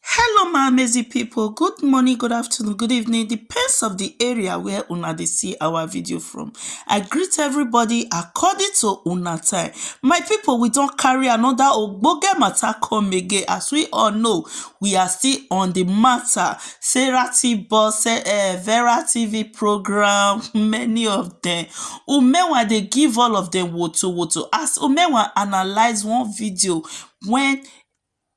Hello my amazing people, good morning, good afternoon, good evening, depends of the area where una dey see our video from. I greet everybody according to una time. My people, we don carry another ogbonge matter come again. As we all know, we are still on the matter. Sarah T. Boss, eh, eh, Vera TV program, many of them. Umewa dey give all of them woto woto. As Umewa analyze one video when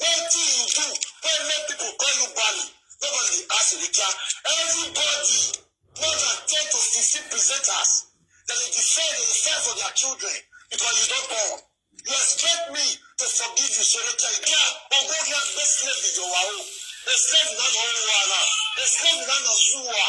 Wetin you do wey make people call you Bali? Nobody dey ask Elijah. Everybody, more than ten to fifteen presenters, dem dey defend, dem dey fight for their children because you don born. You expect me to forgive you, so Elijah, you get ogbonge agbesle video wa o. Eslebi na na owa na, eslebi na na zuwa.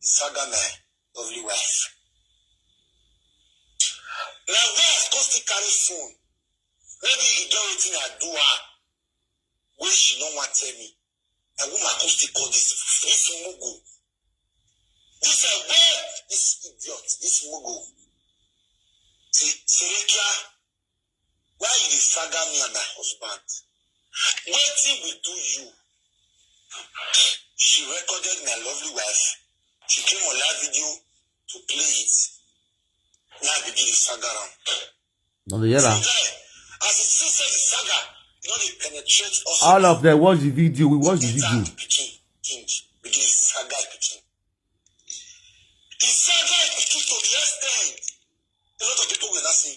Saga man, lovely wife. Na wife come still carry phone. Maybe e get wetin I do her wey she no wan tell me. Na woman come still call this this mugu. This uh, where this idiot, this mugu. Say, Serekia, Why you dey saga me and my husband? Wetin we do you? She recorded my lovely wife. She came on live video to play it. Now I begin the saga round. No dey hear am. See, guy, as you see, say the saga, you know they penetrate us. All of them watch the video. We watch the Enter video. the pikin, king, begin the saga pikin. The saga pikin to the extent, a lot of people will not say,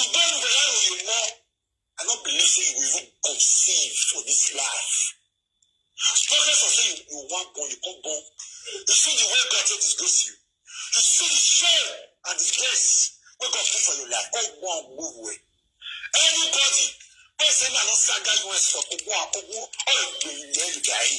Ìgbẹ́nu bẹ̀rẹ̀ àròyìn mọ́. I no believe say you go even conceive for this life. Talking for say you, you want born, you come born. You see the way God take disgrace you. You see the shame and disgrace wey God put for your life. Come go and go away. Anybody wey say na no saga US for Ogun Akogun or Igbeyi Leyi Gari.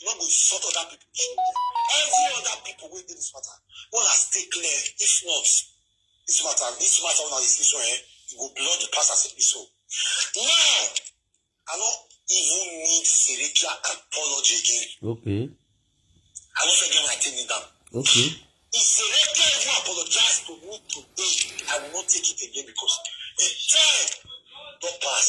You no go insult other people children. Every other people wey dey this matter, wanna stay clear. If not, this matter, this matter una dey see so eh, you go blood the pass as it be so. Now, I no even need Serikia apology again. Okay. I no fit get my thing down. Okay. If Serikia even apologize to me today, I will not take it again because the time don pass.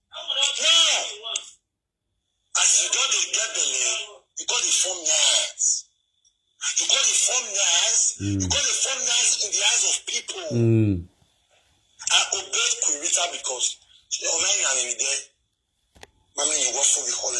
Now, as you don dey get belle, you come dey form nice. You come dey form nice. You come dey form nice in the eyes of people. Mm. I obeyed Queen Rita because she online and in there. Mami, you work for the whole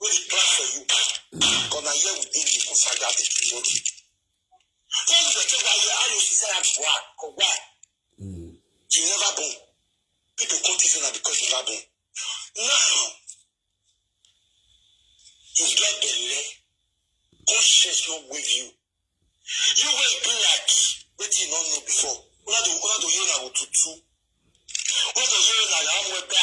We dey plan for you. But na here we dey you go saga the result. Tell you the thing why you are no society why or why. You never born. People come think say na because you never born. Now you get belle. Conscience no wave you. You wey be like wetin you no know before. Una dey una dey hear una go tutu. Una dey hear una dey amwebe.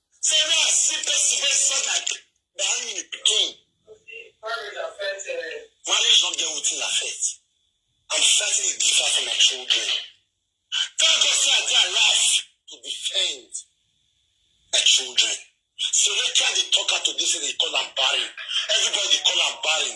So now I see person wey sound like that in the pikin. Marriage affect uh, Marriage don't get wetin affect. I'm fighting a gift for my children. Thank God say I dey alive to defend my children. Selecta dey talk her today say they call am barren. Everybody dey call am barren.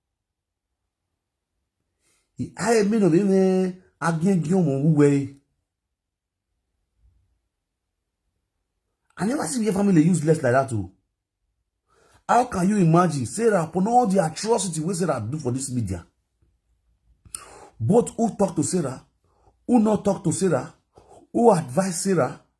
aye mi no mi me agien gi omo wuwe I never see your family useless like that too. Oh. How can you imagine Sarah upon all the atrocity wey Sarah do for this media? Both who talk to Sarah, who not talk to Sarah, who advise Sarah,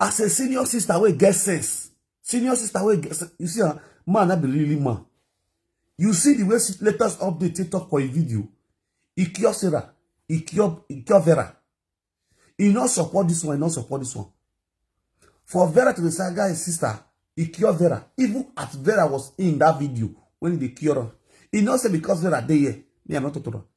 as a senior sister wey get sense senior sister wey get sense you see ah man na be really man you see the way latest update take talk for a video e cure sarah e cure e cure vera e no support this one e no support this one for vera to dey say guy sister e cure vera even as vera was in that video when e dey cure am e no say because vera dey here me i no talk to am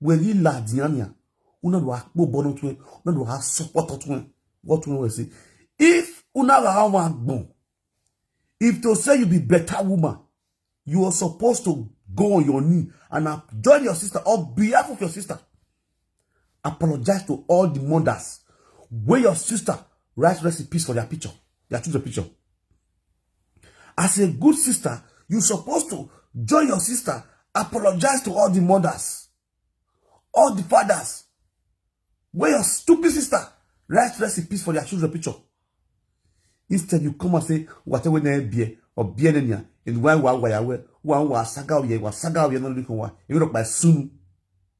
we li la diania una lo akpo bono tun una lo ha support tun what we say if una la wa gbon if to say you be better woman you are supposed to go on your knee and join your sister on behalf of your sister apologize to all the mothers where your sister write recipes for their picture their children picture As a good sister, you supposed to join your sister, apologize to all the mothers, all the fathers, where your stupid sister rest rest in peace for their children picture. Instead, you come and say, whatever na ebie, or bie na nya, and why wa wa ya we, wa wa saga oye, wa saga oye no likon wa, you look by soon.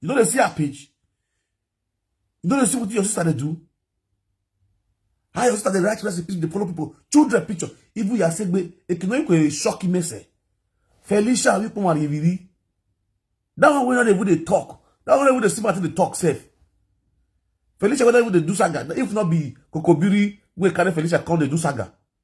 you no dey see her page you no dey see wetin your sister dey do how your sister dey write recipes dey follow people children picture even yasegbe ekinoyinko e shock imese felicia wípé wọn àríyìírí that one wey no dey even dey talk that one wey no even dey see wetin dey talk sef felicia wey no even dey do saga if not be kokobiri wey carry felicia come dey do saga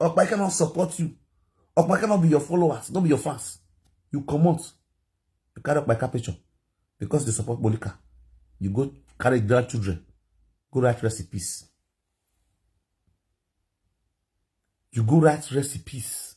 Okpa, I cannot support you. Okpa cannot be your followers, not be your fans. You come out. You carry up my capital because they support Monica. You go carry grandchildren. Go write recipes. You go write recipes.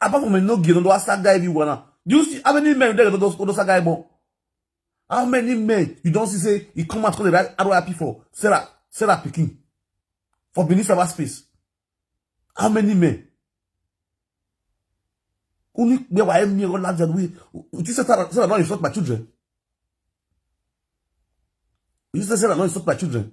apart from no gino do asa guy be one do you see how many men there those those guy born how many men you don see say he come out come dey write RIP for Sarah Sarah pikin for Benin cyber space how many men only where were me all that we you say Sarah Sarah don insult my children you say Sarah don insult my children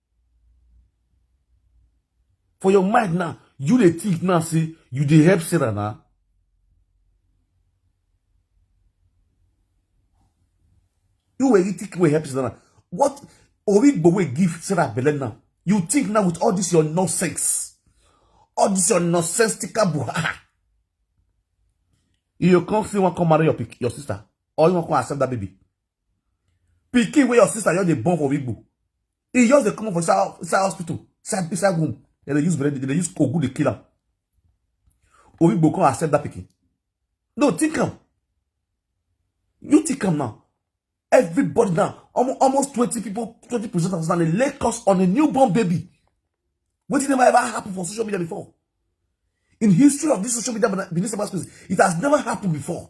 For your mind now, you dey think now say you dey help Sarah na. You were you think you were help Sarah na. What Origbo wey give Sarah belle now? You think now with all this your nonsense, all this your nonsensical buhaha, you come still wan come marry your pic, your sister, or you wan come accept that baby? Pikin where your sister just dey born for Igbo. He just dey come for inside, inside hospital, inside, inside womb. They dey use bread, they dey use kogu dey kill am. Oyigbo come accept that pikin. No, think am. You think am now. Everybody now, almo- almost 20 people, 20 presenters now, they lay curse on a newborn baby. Wetin never ever happen for social media before. In history of this social media, Benin Cyberspace, it has never happened before.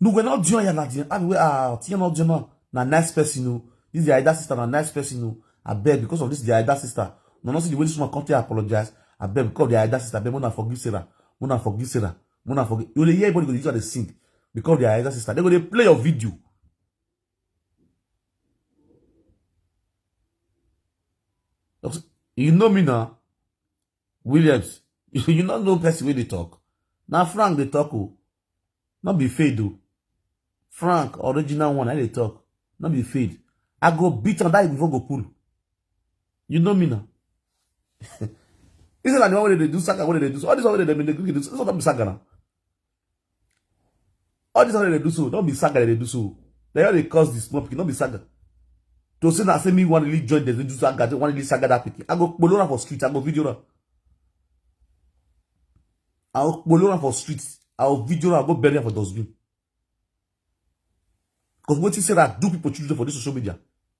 Nuwe na dion ya na dion. Abi we ah tiyan na dion na na nice person o. This the Aida sister na nice person o. I beg because of this the Aida sister. No no see the way this woman come to apologize. I beg because of the Aida sister. I beg mona forgive Sarah. Mona forgive Sarah. Mona forgive. You dey hear everybody go dey use and dey sing because of the Aida sister. They go dey play your video. You know me now. williams you no know person wey dey talk na frank dey talk o no be fade o frank original one i dey talk no be fade i go beat am that before go pull you know me na this one na the one wey dey do saga wey dey do all this one wey dey dey do this one no be saga na all this one dey do so don be saga dey do so they all dey cause the small pikin no be saga to say na say me wan really join dem dey do saga dey wan really saga that pikin i go kpolo am for street i go video am i go kpolo am for street i go video am go bury am for dustbin because wetin sarah do people children for this social media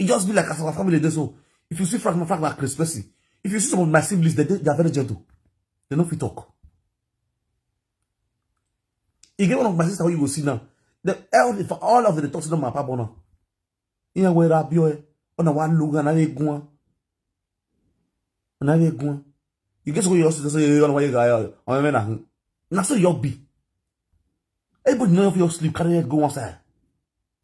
It just be like as our family dey so. If you see Frank, Frank na Chris Percy. If you see some of my siblings, they, they are very gentle. They no fit talk. You get one of my sister who you go see now. The elder for all of the talks to them my papa now. Iyan we ra bio e. Ona wa luga na egun. Na egun. You get so you also say you wa ga. Ona me na. Na so you be. Everybody know if you sleep carry go one side.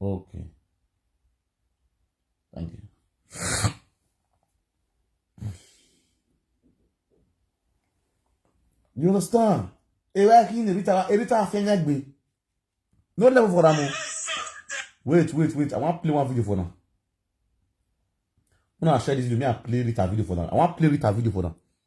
Okay. Thank you. You understand? Ewe aki ni erita erita afenya gbe. No level for am. Wait, wait, wait. I wan play one video for now. Una share this video. Me I play Rita video for now. I wan play Rita video for now.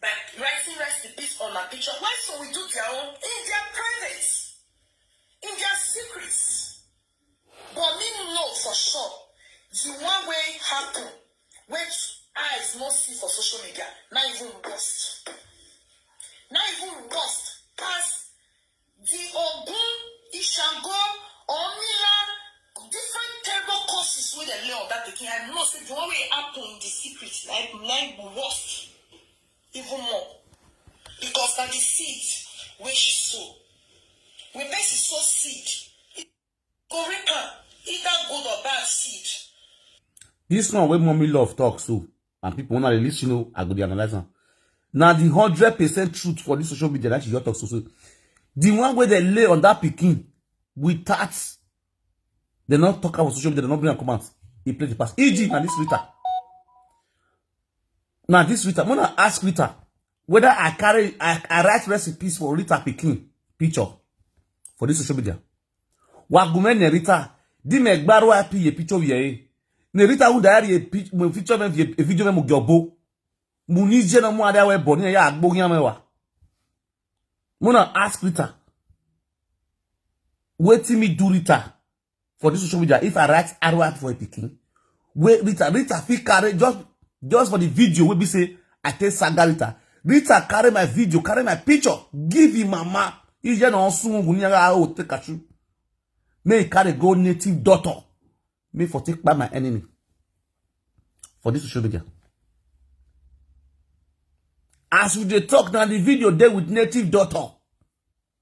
by writing rest in peace on my picture why so we do their own in their private in their secrets but me know for sure the one wey happen wey eyes no see for social media na even worst na even worst pass Di Ogun, Ishango, Orunmila, different terrible curses wey dem lay on dat pikin, I know sey di one wey happen in di secret na im na im go worst even more because na di seeds wey she sow. Wen pesin sow seed, e. Go reap am, either good or bad seed. This one wey mommy love talk so, and people when I listen, you know, I go dey analyze am. Na the hundred percent truth for this social media that she just talk so so. The one wey dey lay on that pikin without they not talk about social media, they not bring am come out. He play the pass. E.g. na this Rita. Na this Rita. When I ask Rita, whether I carry, I, I write recipes for Rita Pikin picture for this social media. Wagume ne Rita, di me gbaro api ye picture ye. Ne Rita u diary ye picture me ye video me mo gyobo. Mu ni je na mu ada we boni ya agbo yan me wa. Muna ask Rita. Wetin me do Rita? for this social media if i write arrow for a pikin wey rita rita fit carry just just for the video wey be say i take saga rita rita carry my video carry my picture give him mama ije na osun ogun ni ara o take kachu may he carry go native daughter may for take by my enemy for this social media as we dey talk na the video dey with native daughter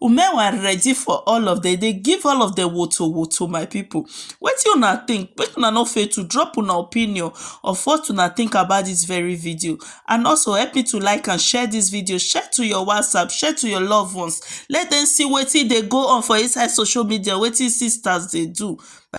Women were ready for all of dem, dey give all of dem woto woto my pipu. Wetin una think? Make una no fail to drop una opinion of what una think about dis very video and also help me to like and share dis video, share to your WhatsApp, share to your love ones, let dem see wetin dey go on for inside social media, wetin sisters dey do.